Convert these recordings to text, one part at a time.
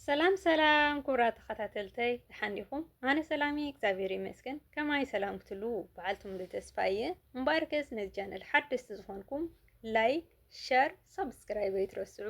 ሰላም ሰላም ኩብራ ተኸታተልተይ ደሓን ዲኹም? ኣነ ሰላም እየ እግዚኣብሔር ይመስገን። ከማይ ሰላም ክትሉ በዓልቲ ሙሉ ተስፋ እየ። እምበኣር ከስ ነዚ ቻነል ሓደስቲ ዝኾንኩም ላይክ፣ ሸር፣ ሳብስክራይብ ኣይትረስዑ።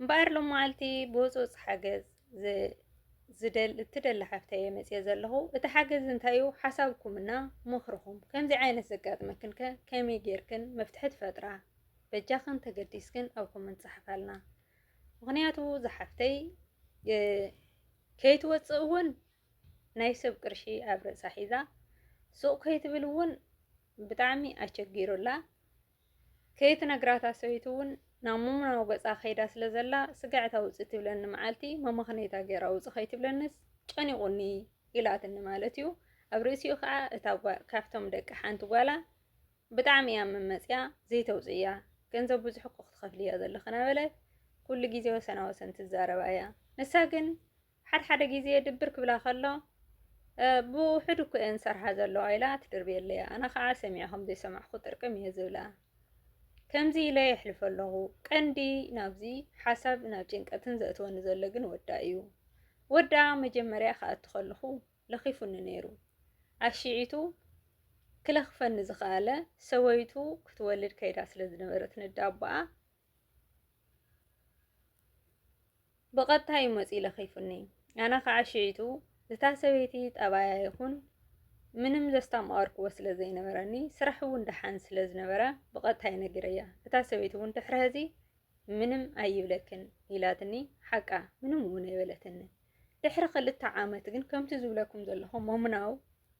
እምበኣር ሎም መዓልቲ ብወፅወፅ ሓገዝ እትደሊ ሓፍተ እየ መፅየ ዘለኹ። እቲ ሓገዝ እንታይ እዩ? ሓሳብኩምና ምኽርኹም። ከምዚ ዓይነት ዘጋጥመክን ከ ከመይ ጌርክን መፍትሒ ትፈጥራ? በጃኽን ተገዲስክን ኣብ ኮመንት ፀሓፋልና። ምክንያቱ ዝሓፍተይ ከይትወፅእ እውን ናይ ሰብ ቅርሺ ኣብ ርእሳ ሒዛ ሱቕ ከይትብል እውን ብጣዕሚ ኣቸጊሩላ ከይትነግራታ ሰበይቱ እውን ናብ ሙሙናዊ ገፃ ከይዳ ስለ ዘላ ስጋዕታ ውፅእ ትብለኒ መዓልቲ መመኽነይታ ገይራ ውፅእ ከይትብለንስ ጨኒቑኒ ኢላትኒ ማለት እዩ ኣብ ርእሲኡ ከዓ እታ ካብቶም ደቂ ሓንቲ ጓላ ብጣዕሚ እያ መመጽያ ዘይተውጽእያ ገንዘብ ብዙሕ እኮ ክትከፍሊ እያ ዘለኺ ናበለ ኩሉ ግዜ ወሰና ወሰን ትዛረባ እያ ንሳ ግን ሓድ ሓደ ግዜ ድብር ክብላ ከሎ ብውሕድ እኮ እየን ዝሰርሓ ዘለዋ ኢላ ትድርብየለይ እያ ኣነ ከዓ ሰሚዐ ከም ዘይሰማዕኩ ጥርቅም እየ ዝብላ ከምዚ ኢለ የሕልፈ ኣለኹ ቀንዲ ናብዚ ሓሳብ ናብ ጭንቀትን ዘእትወኒ ዘሎ ግን ወዳ እዩ ወዳ መጀመርያ ክኣቱ ከለኹ ለኺፉኒ ነይሩ። ኣሽዒቱ ክለኽፈኒ ዝኸኣለ ሰበይቱ ክትወልድ ከይዳ ስለ ዝነበረት ንዳቦኣ ብቐጥታ እዩ መፂኡ ለኺፉኒ። ኣነ ከዓ ሽዒቱ እታ ሰበይቲ ጠባያ ይኹን ምንም ዘስታማወርክዎ ስለ ዘይነበረኒ ስራሕ እውን ደሓን ስለ ዝነበረ ብቐጥታ እዩ ነጊረያ። እታ ሰበይቲ እውን ድሕሪ ሕዚ ምንም ኣይብለክን ኢላትኒ ሓቃ ምንም እውን ኣይበለትኒ። ድሕሪ ክልተ ዓመት ግን ከምቲ ዝብለኩም ዘለኹ መሙናው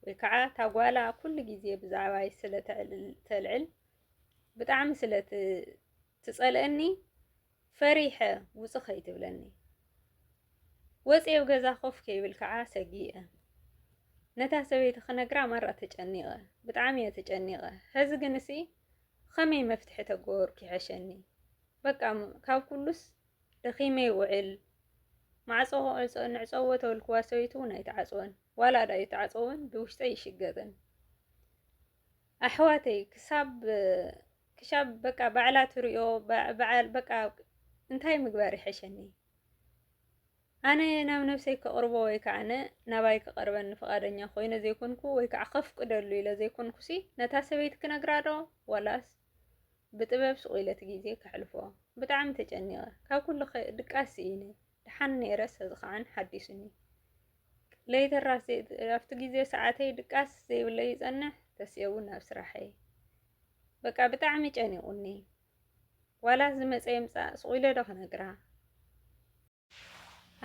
ወይ ከዓ እታ ጓላ ኩሉ ግዜ ብዛዕባይ ስለ ተልዕል ብጣዕሚ ስለ ትጸልአኒ ፈሪሐ ውጽእ ከይትብለኒ ወፂኤ ኣብ ገዛ ኮፍ ከይብል ከዓ ሰጊኤ ነታ ሰበይቲ ክነግራ ማራ ተጨኒቐ ብጣዕሚ እየ ተጨኒቐ ሕዚ ግን እሲ ኸመይ መፍትሒ ተገበርኩ ይሐሸኒ በቃ ካብ ኩሉስ ደኺመ ይውዕል ማዕጾ ንዕጸዎ ተበልክዋ ሰበይቲ ውን ኣይትዓጽወን ዋላ ድኣ ይትዓጸው ውን ብውሽጠይ ይሽገጥን ኣሕዋተይ ክሳብ ክሻብ በቃ ባዕላ ትሪኦ በዓል በቃ እንታይ ምግባር ይሐሸኒ ኣነ ናብ ነብሰይ ከቕርቦ ወይ ከዓነ ናባይ ክቐርበኒ ፍቓደኛ ኮይነ ዘይኮንኩ ወይ ከዓ ከፍቅደሉ ኢለ ዘይኮንኩሲ ነታ ሰበይቲ ክነግራ ዶ ዋላስ ብጥበብ ሱቕ ኢለ እቲ ግዜ ከሕልፎ። ብጣዕሚ ተጨኒቐ። ካብ ኩሉ ድቃስ ስኢነ። ደሓን ነይረ ሰዝኸዐን ሓዲሱኒ። ለይተራስ ኣብቲ ግዜ ሰዓተይ ድቃስ ዘይብለይ ይጸንሕ፣ ተሲኤ እውን ናብ ስራሐይ። በቃ ብጣዕሚ ጨኒቑኒ። ዋላ ዝመጸ ይምጻእ ሱቕ ኢለ ዶ ክነግራ?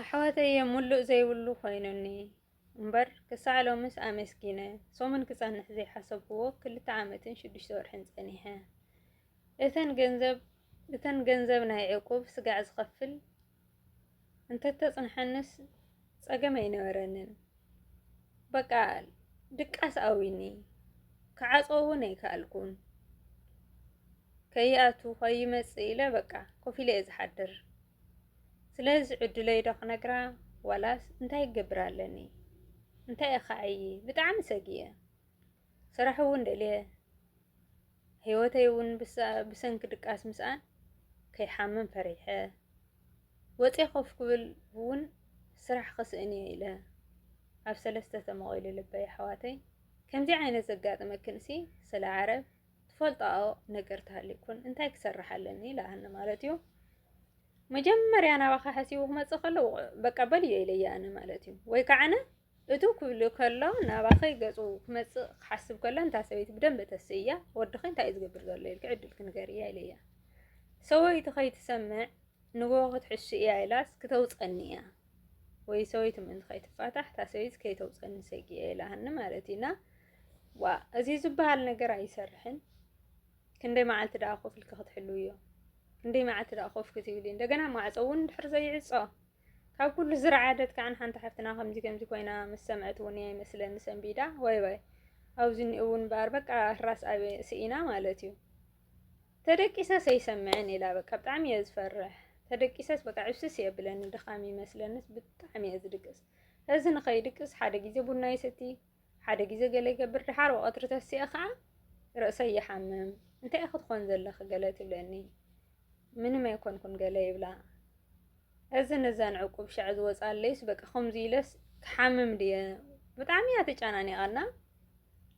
ኣሕዋተየ ሙሉእ ዘይብሉ ኮይኑኒ እምበር ክሳዕ ሎምስ ኣመስጊነ ሰሙን ክጸንሕ ዘይሓሰብክዎ ክልተ ዓመትን ሽዱሽተ ወርሕን ጸኒሐ። እተን ገንዘብ እተን ገንዘብ ናይ ዕቁብ ስጋዕ ዝኸፍል እንተተጽንሐንስ ጸገም ኣይነበረንን። በቃ ድቃስ ኣዊኒ ክዓጾ እውን ኣይከኣልኩን። ከይኣቱ ከይመጽእ ኢለ በቃ ኮፍ ኢለ እየ ዝሓድር። ስለዚ ዕድለይ ዶ ክነግራ ዋላስ እንታይ ክገብር ኣለኒ እንታይ እኻዕዪ ብጣዕሚ ሰጊየ ስራሕ እውን ደልየ ህይወተይ እውን ብሰንኪ ድቃስ ምስኣን ከይሓምም ፈሪሐ ወፂ ኮፍ ክብል እውን ስራሕ ክስእን እየ ኢለ ኣብ ሰለስተ ተመቒሉ ልበይ ኣሕዋተይ ከምዚ ዓይነት ዘጋጥመክንሲ ስለ ዓረብ ትፈልጣኦ ነገር ተሃልዩ ኮን እንታይ ክሰርሕ ኣለኒ ኢላሃኒ ማለት እዩ መጀመርያ ናባኻ ሓሲቡ ክመፅእ ከሎ በቃ በልዮ ኢለያ ኣነ ማለት እዩ ወይ ከዓነ እቱ ክብሉ ከሎ ናባኸይ ገፁ ክመፅእ ክሓስብ ከሎ እንታ ሰበይቲ ብደንብ ተስእያ ወድኸ እንታይ እዩ ዝገብር ዘሎ ኢልክ ዕድል ክንገር እያ ኢለያ ሰበይቲ ከይትሰምዕ ንጎ ክትሕሱ እያ ኢላስ ክተውፀኒ እያ ወይ ሰበይቱ ምእንቲ ከይትፋታሕ እታ ሰበይት ከይተውፀኒ ሰጊኤ ኢላሃኒ ማለት እዩ እና ዋ እዚ ዝበሃል ነገር ኣይሰርሕን። ክንደይ መዓልቲ ደኣ ኮፍ ኢልኪ ክትሕልው እዮ ክንደይ መዓልቲ ደኣ ኮፍ ክትብሊ እንደገና ማዕፆ እውን ድሕር ዘይዕፆ ካብ ኩሉ ዝረዓደት ከዓ ንሓንቲ ሓፍትና ከምዚ ከምዚ ኮይና ምስ ሰምዐት እውን እያ ይመስለኒ ሰንቢዳ ወይ ወይ ኣብዚ እኒኡ እውን በኣር በቃ ራስ ኣብ ስኢና ማለት እዩ ተደቂሰስ ኣይሰምዕን ኢላ በቃ ብጣዕሚ እየ ዝፈርሕ ተደቂሰስ በቃ ዕብስስ የብለኒ ድኻም ይመስለንስ ብጣዕሚ እየ ዝድቅስ እዚ ንኸይድቅስ ሓደ ግዜ ቡና ይሰቲ ሓደ ግዜ ገለ ይገብር ድሓር ወቐትሪ ተሲኣ ከዓ ርእሰይ ይሓምም እንታይ እየ ክትኾን ዘለኺ ገለ ትብለኒ ምንም ኣይኮንኩን ገለ ይብላ እዚ ነዛን ዕቁብ ሻዕ ዝወፃለይስ በቃ ከምዚ ኢለስ ክሓምም ድየ ብጣዕሚ እያ ተጨናኒቓና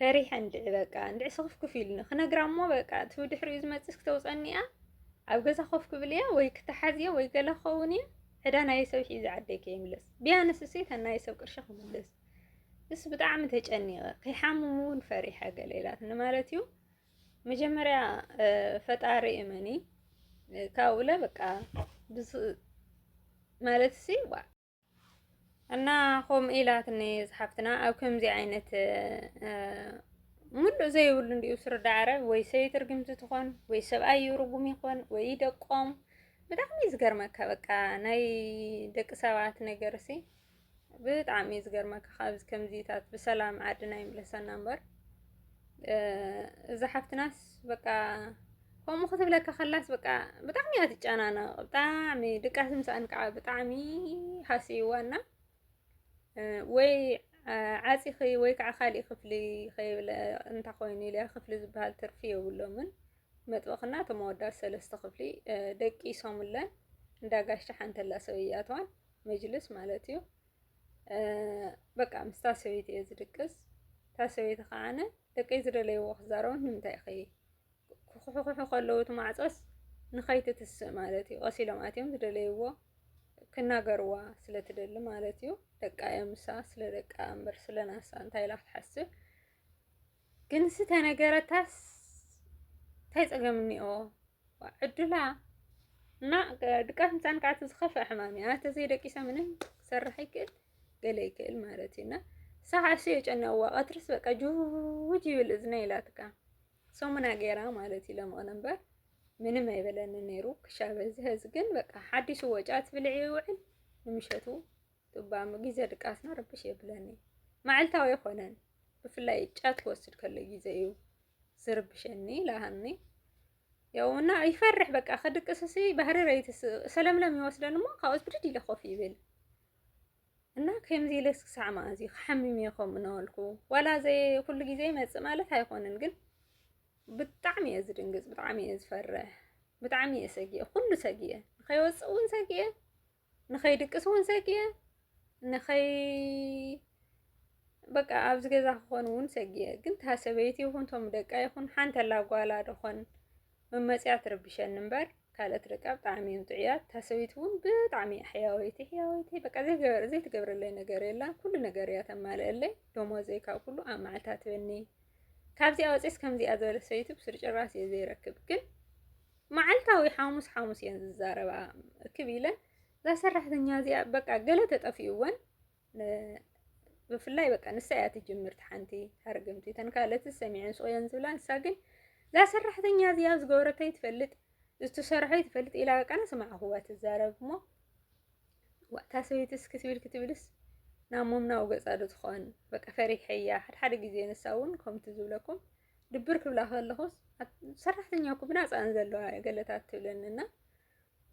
ፈሪሐ እንድዒ በቃ እንድዒ ስኽፍ ክፍ ኢሉኒ ክነግራ እሞ በቃ እቲ ብድሕሪኡ ዝመፅስ ክተውፀኒ እያ ኣብ ገዛ ኮፍ ክብል እያ ወይ ክተሓዝ እያ ወይ ገለ ክኸውን እያ ዕዳ ናይ ሰብ ሒዘ ዓደይ ከይምለስ ቢያንስ እሰይ እታ ናይ ሰብ ቅርሺ ክምለስ እስ ብጣዕሚ ተጨኒቐ ከይሓምሙ እውን ፈሪሐ ገለ ኢላትኒ ማለት እዩ መጀመሪያ ፈጣሪ እመኒ ካብኡለ በቃ ማለት ሲ እና ከምኡ ኢላትኒ ዝሓፍትና ኣብ ከምዚ ዓይነት ሙሉእ ዘይብሉ እንዲኡ ስርዳዕረ ወይ ሰበይቲ ርግምቲ ትኾን ወይ ሰብኣዩ ርጉም ይኾን ወይ ደቆም ብጣዕሚ እዩ ዝገርመካ በቃ ናይ ደቂ ሰባት ነገር ሲ ብጣዕሚ እዩ ዝገርመካ ካብዚ ከምዚታት ብሰላም ዓድና ይምለሰና እምበር እዛ ሓፍትናስ በቃ ከምኡ ክትብለካ ከላስ በቃ ብጣዕሚ እያ ትጨናነቕ ብጣዕሚ ድቃስ ምስኣን ከዓ ብጣዕሚ ሃስይዋ እና ወይ ዓፂኺ ወይ ከዓ ካሊእ ክፍሊ ከይብለ እንታ ኮይኑ ኢልያ ክፍሊ ዝበሃል ትርፊ የብሎምን መጥበኽና እቶም ኣወዳት ሰለስተ ክፍሊ ደቂሶምለን እንዳጋሻ ሓንተላ ሰብያተዋን መጅልስ ማለት እዩ በቃ ምስታ ሰበይቲ እየ ዝድቅስ እታ ሰበይቲ ከዓነ ደቀይ ዝደለይዎ ክዛረቡ ንምንታይ ኢኺ ክኹሕኹሑ ከለዉ እቲ ማዕፆስ ንኸይትትስእ ማለት እዩ ቀስ ኢሎም ኣትዮም ዝደለይዎ ክናገርዋ ስለ ትደሊ ማለት እዩ ደቃ እዮም ንሳ ስለ ደቃ እምበር ስለ ናሳ እንታይ ኢላ ክትሓስብ ግንሲ ተነገረታስ እንታይ ፀገም እኒኦ ዕዱላ እና ድቃስ ምፃን ከዓ እቲ ዝኸፍአ ሕማም እዩ ኣተ ዘይደቂሳ ምንም ክሰርሕ ይክእል ገለ ይክእል ማለት እዩ እና ሳዕ እሱ የጨነዋ ቀትርስ በቃ ጅውጅ ይብል እዝነ ይላትካ ሰሙና ገይራ ማለት እዩ ለምቕን እምበር ምንም ኣይበለኒ ነይሩ ክሻ በዝሐ እዚ ግን በቃ ሓዲሱ ወጫት ብልዒ ይውዕል ንምሸቱ እባ እሞ ግዜ ድቃስና ርብሽ የብለኒ መዓልታዊ ኣይኮነን ብፍላይ ጫት ክወስድ ከሎ ግዜ እዩ ዝርብሸኒ ኢላ ሃኒ ያው እና ይፈርሕ በቃ ከድቅስ ሲ ባህሪ ረይትስ ሰለምለም ይወስደን እሞ ካብኡስ ብድድ ኢለ ኮፍ ይብል እና ከምዚ ኢለስ ክሳዕ መኣዝ እዩ ክሓምም እየ ከምኡ እናበልኩ ዋላ ዘይ ኩሉ ግዜ ይመፅእ ማለት ኣይኮነን ግን ብጣዕሚ እየ ዝድንግፅ ብጣዕሚ እየ ዝፈርሕ ብጣዕሚ እየ ሰጊየ ኩሉ ሰጊየ ንከይወፅእ እውን ሰጊየ ንኸይድቅስ እውን ሰጊኤ ንኸይ በቃ ኣብዚ ገዛ ክኾን እውን ሰጊኤ ግን እታ ሰበይቲ ይኹን እቶም ደቃ ይኹን ሓንቲ ኣላ ጓላ ድኾን መመፅያ ትርብሸኒ እምበር ካልኦት ደቃ ብጣዕሚ እዮም ጥዑያት እታ ሰበይቲ እውን ብጣዕሚ እያ ሕያወይቲ ሕያወይቲ በቃ ዘይገበር ዘይትገብረለይ ነገር የላን ኩሉ ነገር እያ ተማልአለይ ደሞዘይ ካብ ኩሉ ኣብ መዓልታ ትበኒ ካብዚኣ ወፂስ ከምዚኣ ዝበለ ሰበይቲ ብስሩ ጭራስ እየ ዘይረክብ ግን መዓልታዊ ሓሙስ ሓሙስ እየን ዝዛረባ እክብ ኢለን እዛ ሰራሕተኛ እዚኣ በቃ ገለ ተጠፊኡወን ብፍላይ በቃ ንሳ እያ ትጅምርቲ ሓንቲ ሃርግምቲ እተን ካልኦት ሰሚዐን ስቆየን ዝብላ ንሳ ግን እዛ ሰራሕተኛ እዚኣ ዝገበረተይ ትፈልጥ ዝተሰርሐ ትፈልጥ ኢላ በቃ ንስማዕኹዋ ትዛረብ እሞ ዋእታ ሰበይቲ እስኪ ትብል ክትብልስ ናብ ሞምናዊ ገፃ ዶ ትኾን በቃ ፈሪሐያ ሓድሓደ ግዜ ንሳ እውን ከምቲ ዝብለኩም ድብር ክብላ ከለኹስ ሰራሕተኛ እኮ ብናፃ እየን ዘለዋ ገለታት ትብለኒ እና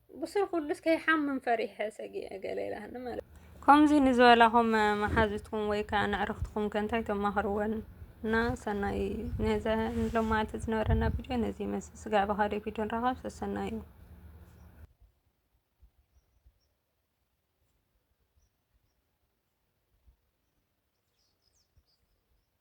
ብስሩ ኩሉስ ከይሓምም ፈሪሐ ሰጊዐ ገለ ኢላኒ ማለት ከምዚ ንዝበላኹም መሓዙትኩም ወይ ከዓ ንዕርኽትኩም ከ እንታይ ተማኽርወን እና ሰናይ ነዘ ንሎም ማለት ዝነበረና ቪድዮ ነዚ ይመስል ስጋዕ ብካልእ ቪድዮ ንራኸብ ሰሰናይ እዩ